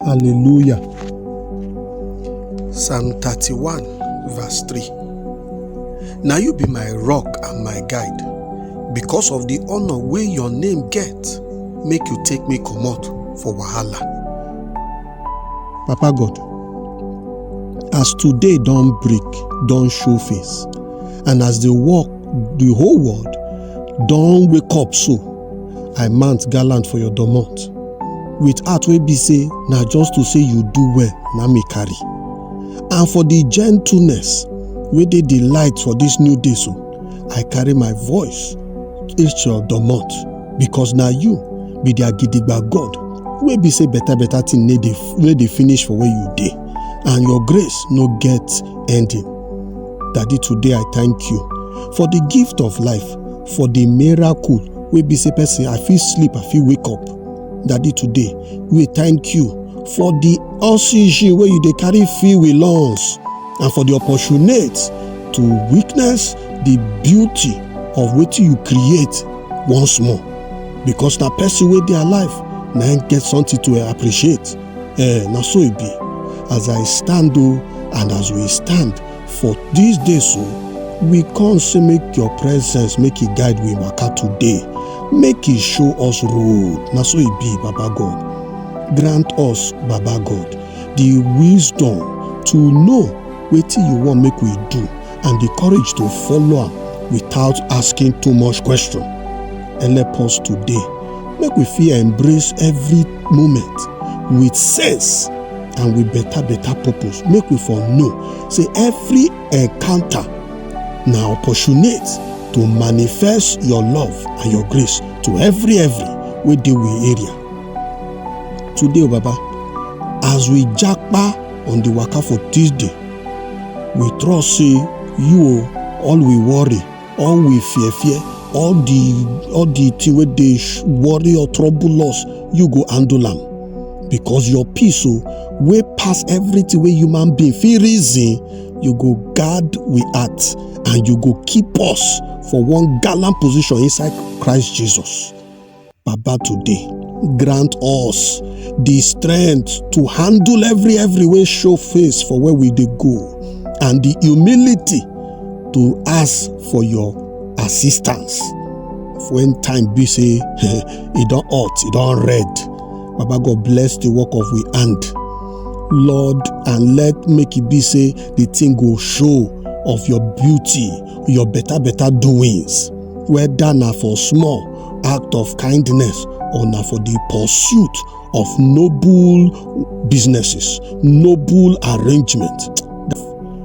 Hallelujah. Psalm 31, verse 3. Now you be my rock and my guide. Because of the honor wey your name get, make you take me comot for wahala. Papa God, as today don break, don show face, and as the work, the whole world don wake up so, i mount gallant for your domot with heart wey be say na just to say you do well na me carry and for the gentleness wey dey the light for this new day so i carry my voice reach your domot because na you be their gidigba god wey be say better better thing no dey no dey finish for where you dey and your grace no get ending daddy today i thank you for the gift of life for the miracle wey be say person i fit sleep i fit wake up daddy today we thank you for the oxygen wey you dey carry fill with lungs and for the opportunity to witness the beauty of wetin you create once more because na person wey dey alive na im get something to eh, appreciate eh, na so e be as i stand o and as we stand For dis day so, we come say make your presence make e guide we waka today, make e show us road, na so e be Baba God. Grant us Baba God the wisdom to know wetin you wan make we do and the courage to follow am without asking too much question. Help us today make we fit embrace every moment with sense and with better better purpose make we for know say every encounter na opportunity to manifest your love and your grace to every every wey dey we area today o baba as we japa on the waka for tuesday we trust say you o all we worry all we fear fear all the all the thing wey dey sh- worry or trouble us you go handle am because your peace o wey pass everything wey human being fit reason you go guard we heart and you go keep us for one gallant position inside christ jesus. Baba today, grant us the strength to handle every every way show face for where we dey go and the humility to ask for your assistance when time be say e don hot e don red baba god bless the work of we hand lord and let make e be say the thing go show of your beauty your better better doings whether na for small act of kindness or na for the pursuit of noble businesses noble arrangements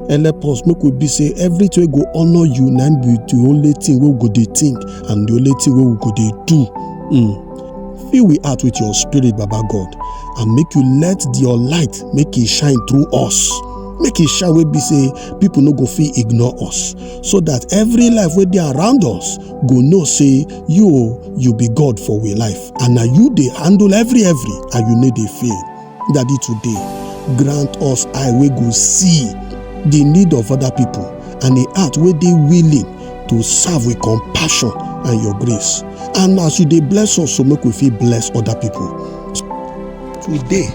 and help us make we be say everything wey go honour you na be the only thing wey we go dey think and the only thing wey we go dey do mm. fill we heart with your spirit baba god and make you let your light make e shine through us make e shine wey be say people no go fit ignore us so that every life wey dey around us go know say you o you be god for we life and na you dey handle every every and you no dey fail daddy today grant us eye wey go see the need of other people and a heart wey dey willing to serve with compassion and your grace and as you dey bless us so make we fit bless other people today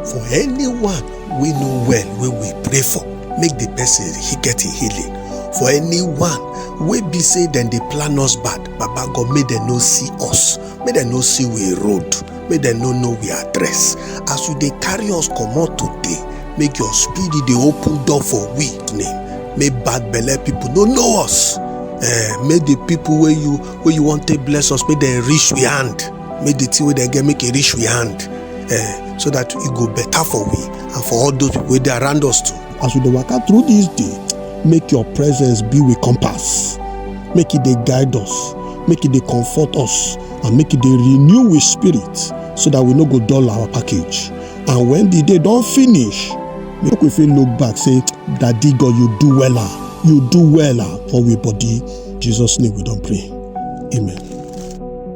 for anyone we know well wey we pray for make the person he get him healing for anyone wey be say dem dey plan us bad baba god make dem no see us make dem no see we road make dem no know we address as you dey carry us comot today make your spirit dey open door for we name make bad belle people no know us eh make the people wey you wey you wan take bless us make dem reach we hand make the thing wey dem get make e reach we hand eh, so that e go better for we and for all those wey dey around us too. as we dey waka through this day make your presence be with compass make e dey guide us make e dey comfort us and make e dey renew we spirit so that we no go dull our package and when the day don finish make we fit look back say daddy god you do wella you do wella for we body jesus name we don pray amen.